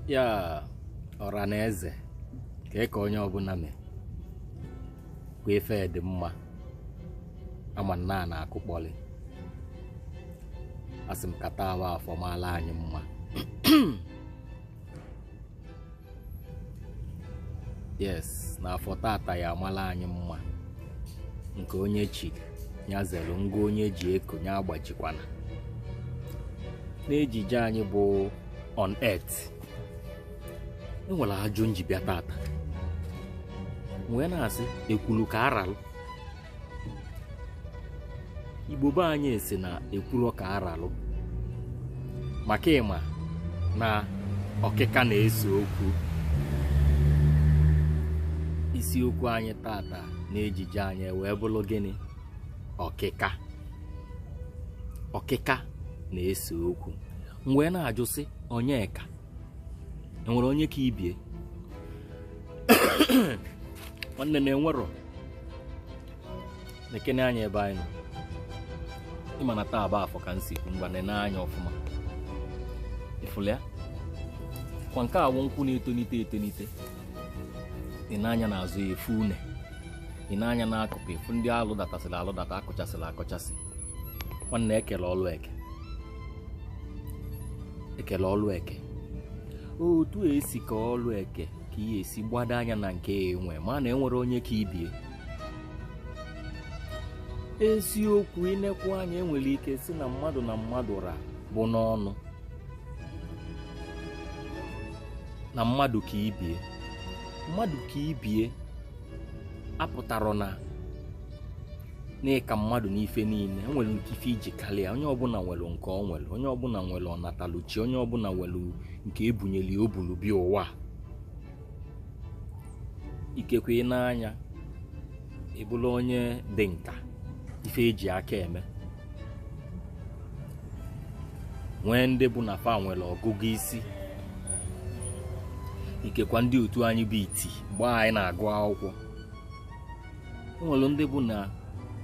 ya ọra na eze ka ị ka onye ọbụla mee kwa ife dị mma ama nna a na-akụkpọlị asị m ka taa wụ afọ maala anyị mma yes n'afọ tata ya amala anyị mma nke onye chiri ya zere ngwa onye ji eko ya agbajikwana n'ejije anyị bụ on earth enwere ajụjụ m ji bịa tata m wee na-asị ekwulu ka aralụ igbo be anyị si na ekwuru ka aralụ maka ịma na ọkịka na-ese okwu isiokwu anyị tata n'ejije anyị wee bụrụ gịnị ọkịka ọkịka na-ese okwu m wee na-ajụ sị onye ka enwere onye ka ibie nwanne na enwerọ nekene anya ebe anyị nọ ịma na taa bụ afọ ka m si kwu ngwa nene anya ọfụma ịfụlụ ya kwa nke a wụ nkwụ na-etonite etonite ị nee anya n'azụ ya ị fụ une ị nee anya n'akụkụ ị fụ ndị alụ datasịrị alụ data akụchasịrị akụchasị nwanne ekele ọlụ eke ekele ọlụ eke otu esi kee ọlụ eke ka ihe esi gbado anya na nke ya ewee ma na enwere onye ka ibie eziokwu inekwa anya ịnwere ike sị na mmadụ na mmadụ ra bụ n'ọnụ na mmadụ ka ibie mmadụ ka ibie apụtarọ na n'ịka mmadụ n'ife niile o nwere nke ife iji karịa onye ọbụla nwere nke ọ nwere onye ọbụla nwere ọnataluchi onye ọbụla nwere nke ebunyeli o buru bịa ụwa ikekwe ị nee anya ịbụrụ onye dị nka n'ife eji aka eme nwee ndị bụ na fa nwere ọgụgụ isi ikekwe ndị otu anyị bụ iti mgbe anyị na-agụ akwụkwọ nwere ndị bụ na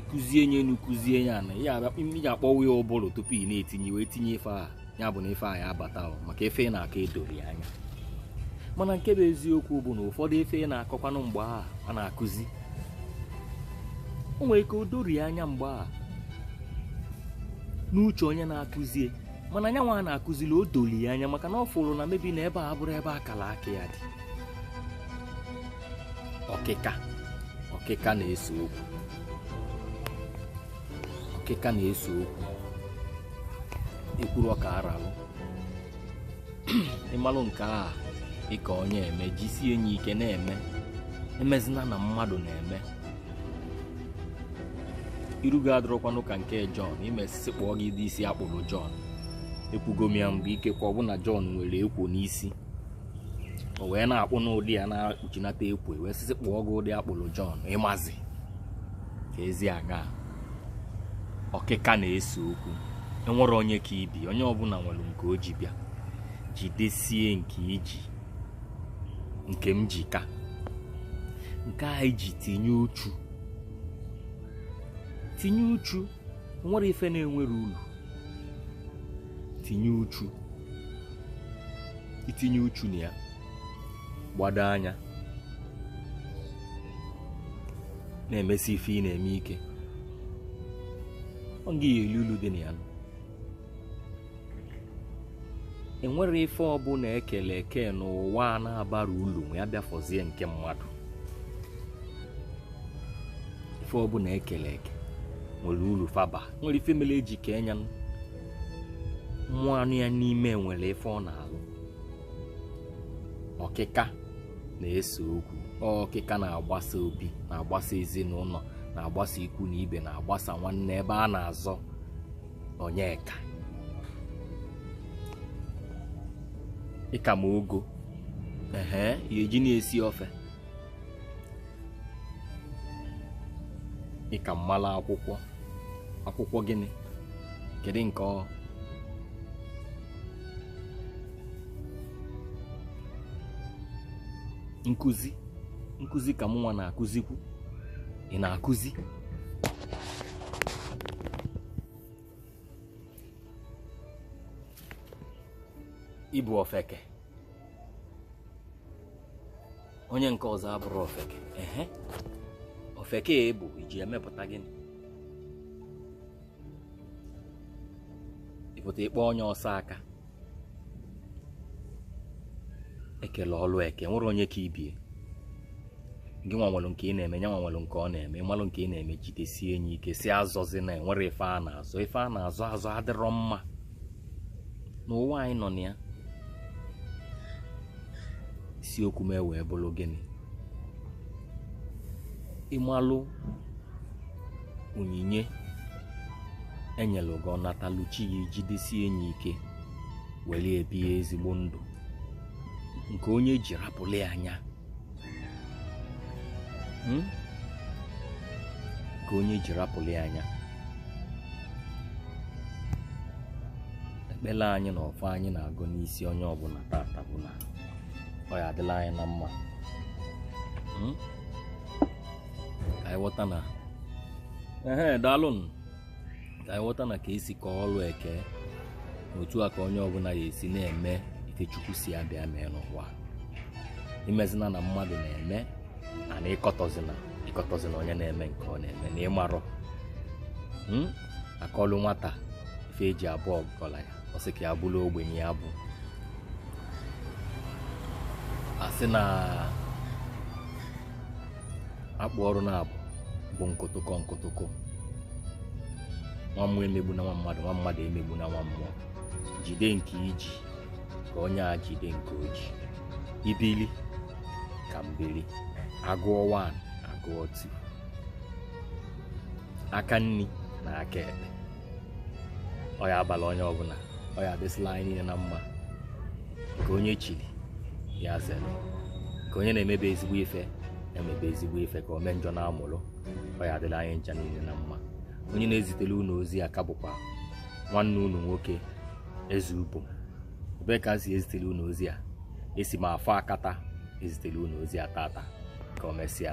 ịkụzie nya enu kụzie ya ana ya iji akpọwa ya ụbụrụ tupu ị na-etinye wee tinye ife a ya bụ na ife a ya abata maka ife ị na-akọ edori anya mana nke bụ eziokwu bụ na ụfọdụ ife ị na-akọkwanụ mgbe a a na-akụzi o nwere ike o dorie anya mgbe a n'uche onye na-akụzie mana nya nwa a na-akụzili o doli anya maka na ọ fụrụ na maybe na ebe a abụrọ ebe akara aka ya dị ọkịka ọkịka na-ese okwu ọkịka na-ese okwu ekwuru ọka aralụ ịmalụ nke a ịka onye eme jisie nya ike na-eme emezina na mmadụ na-eme iru gị adịrọkwanụ ka nke Jọn i mee sị sị kpụọ gị ụdị isi akpụrụ Jọn ekwugo m ya mgbe ikekwe ọ bụ na Jọn nwere ekwo n'isi o wee na-akpụ n'ụdị a na-akpuchinata ekwo wee sị sị kpụọ gị ụdị akpụrụ Jọn ịmazi ka ezi aga ọkịka na-ese okwu enwerọ onye ka ibe onye ọbụla nwere nke o ji bịa jidesie nke i ji nke m ji ka nke anyị ji tinye uchu tinye uchu enwerọ ife na-enwerọ ulu tinye uchu itinye uchu na ya gbado anya na-emesi ife ị na-eme ike ọ gị ya-eli ulu dị na ya enwerọ ife ọbụla ekele eke n'ụwa a na-abarọ ulu ma ya bịa fọzie nke mmadụ ife ọbụla ekele eke nwere ulu fa ba nwere ife mere eji kee nya mmụọ nọ ya n'ime nwere ife ọ na-alụ ọkịka na-ese okwu ọkịka na-agbasa obi na-agbasa ezinụlọ na-agbasa ikwu na ibe na-agbasa nwanne ebe a na-azọ onye ka ị ka m ogo ehe ya eji na-esi ofe ị ka m malụ akwụkwọ akwụkwọ gịnị kedu nke ọ nkụzi nkụzi ka mụnwa na-akụzikwu ị na-akụzi ịbụ ofeke onye nke ọzọ abụrụ ofeke ehe ofeke a ị bụ i ji emepụta gịnị ịpụta ịkpa onye ọzọ aka ekele ọlụ eke enwerọ onye ka ibe ya gị nwa nwere nke ị na-eme ya nwa nwere nke ọ na-eme ịmalụ nke ị na-eme jidesie nya ike sị azọzina enwerọ ife a na-azọ ife a na-azọ azọ adịrọ mma n'ụwa anyị nọ na ya isiokwu m ewee bụrụ gịnị ịmalụ onyinye enyelụ gị ọ natalụ chi ya ijidesi nya ike were ebie ezigbo ndụ nke onye ji rapụlụ ya nya hmm? ka onye ji rapụli anya ekpere anyị na ọfọ anyị na-agọ n'isi onye ọbụna tata bụ na ọ ya adịla anyị na mma hmm? ka anyị ghọta na ehe daalụnụ ka anyị ghọta na ka esi ka ọrụ eke otu a ka onye ọbụna ya esi na-eme ife chukwu si ya bịa mee n'ụwa imezina na mmadụ na-eme and ịkọtọzina ịkọtọzina onye na-eme nke ọ na-eme na ịmarọ hmm? akọlụ nwata ife eji abụ ọgalanya ọ sị ka ya bụrụ ogbenye ya bụ a sị na akpụ ọrụ na-abụ bụ nkụtụkọ nkụtụkọ nwa mmụọ emegbuna nwa mmadụ nwa mmadụ emegbuna nwa mmụọ jide nke i ji ka onye a jide nke o ji i bili ka m bili agụọ 1 agụọ 2 aka nri na aka ekpe ọ ya abala onye ọbụna ọ ya adịsịla anyị niile na mma nke onye chiri ya zere ka onye na-emebe ezigbo ife emebe ezigbo ife ka ome njọ na-amụrụ ọ ya adịla anyị ncha niile na mma onye na-ezitere unu ozi a ka bụkwa nwanne unu nwoke eze ubom ebee ka a si ezitere unu ozi a esi m afọ akata ezitere unu ozi a tata ka o mesịa